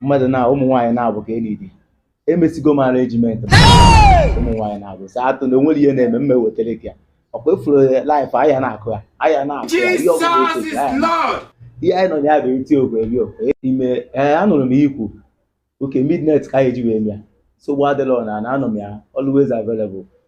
mmadụ na ụmụ nwaanyị naabọ ka e needi emesigo m arrangement ụmụ nwaanyị naabọ sir atụ na onwere ihe na-eme mma ewetara gị ya ọkwa ifuru life ahịa na-akụ ya ahịa na-akụ ya ihe ọgwụgwụ Jesus otu is ahịa na- Lord. ihe anyị nọ na ya bụ eti okwe eri okwe ime ee anụrụ m ikwu okay midnight ka anyị ji wee mịa nsogbu adịrọ nna anọ m ya always available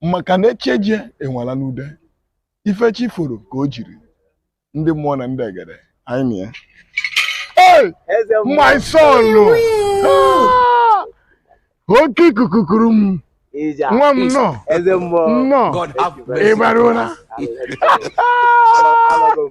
maka na echeje enwala n'ude ife chi foro ka o jiri ndị mmụọ na ndị egede anyị na ya Hey! Eze mmụọ. my son Ah! oke ikuku kuru m Ije a. nwa m nnọọ Eze mmụọ. nnọọ God have ị mercy. bịarula Alọgo m.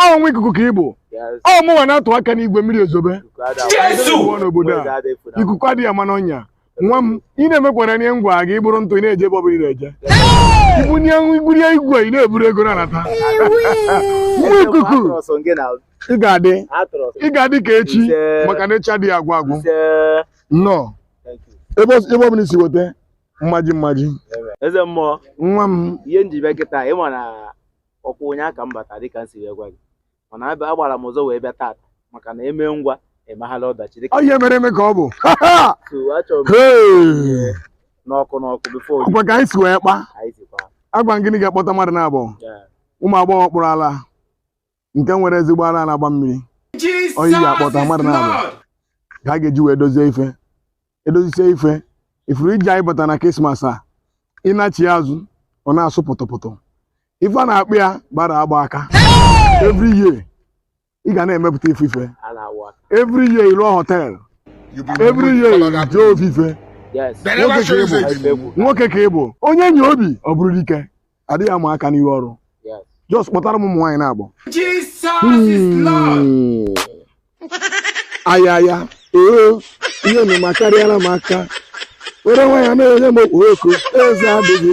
ọ nwa ikuku ka ị bụ ọ mụnwa na-atụ aka n'igwe mmiri ezobe n'obodo a ikuku adịghị ama n'ọnya nwa m ị na-emekwara nye ngwa gị buru ntụ ị na-eje ebe ọbụla ị na-eje ibunye igwurie igwe ị na-eburu ego na-anata nwa ikuku ị ga-adị ị ga-adị ka echi maka na echi adịghị agwụ agwụ nnọọ ebe ọ bụla i si weta mmaji mmaji eze mmụọ nwa m ihe m ji bịa kịta ịma na ọkwa ụnyaa ka m bata dịka m si wee gwa gị mana abịa- agbara m ụzọ wee bịa tata maka na eme ngwa emeghala ọdachi dịka ọ ihe mere eme ka ọ bụ so achọrọ m Hey! n'ọkụ n'ọkụ before ọkwa ka anyị si wee kpa anyị sikwa agwa m gị na ị ga-akpọta mmadụ naabọ ya ụmụ agbọghọ kpụrụ ala nke nwere ezigbo ala na-agba mmiri ọ ị ga-akpọta mmadụ naabọ ka a ga-eji wee dozie ife edozisie ife ifuru iji anyị bata na Christmas a ịnachi ya azụ ọ na-asụ pụtụpụtụ ife a na-akpụ ya gbara agba aka every year ị ga na-emepụta ofu ife every year ị lụọ hotel every year jee ofu ife nwoke ka ị bụ onye nwee obi ọ bụrụ dike adịghị ama aka n'ihu ọrụ just kpọtara m ụmụ nwaanyị naabọ aya aya oo ihe nụ makarịala m aka were nwaanyị na-enye m okwu eze adịghị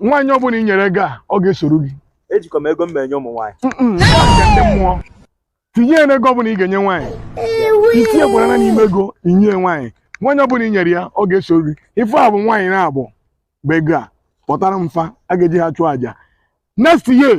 nwaanyị ọbụla i nyere ego a ọ ga-esoro gị ejikwa m ego m enye ụmụ nwaanyị Mm-mm, ọ nke ndị mmụọ tinye ya n'ego ọbụla ị ga-enye nwaanyị itinye gwarana n'ime ego inye nwaanyị nwaanyị ọbụla i nyere ya ọ ga-esoro gị ife a bụ nwaanyị naabọ bụ ị ga-akpọtara m fa a ga-eji ha chụọ àjà next year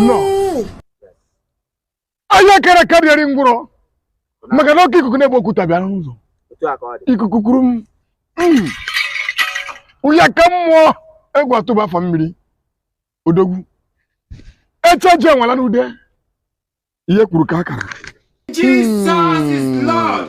nnọọ aya akara aka adị eri ngwụrọ maka na oke ikuku na-ebu okwute bịara n'ụzọ otu a ka ọ dị ikuku kuru m Mm. ụya ka mmụọ egwu atụba fa mmiri odogwu echeje enwela n'ude ihe e kwuru ka akara Jesus is Lord.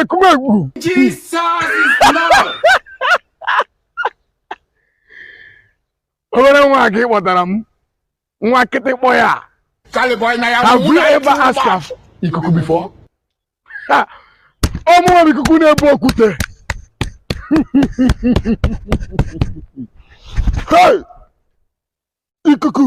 Ekumegwu. Jesus is Lord. Obere nwa gị kpọtara m nwa kịtịkpọ ya. Charlie boy na ya. Have you ever asked ikuku before? ọ mụwa ikuku na-ebu okwute ikuku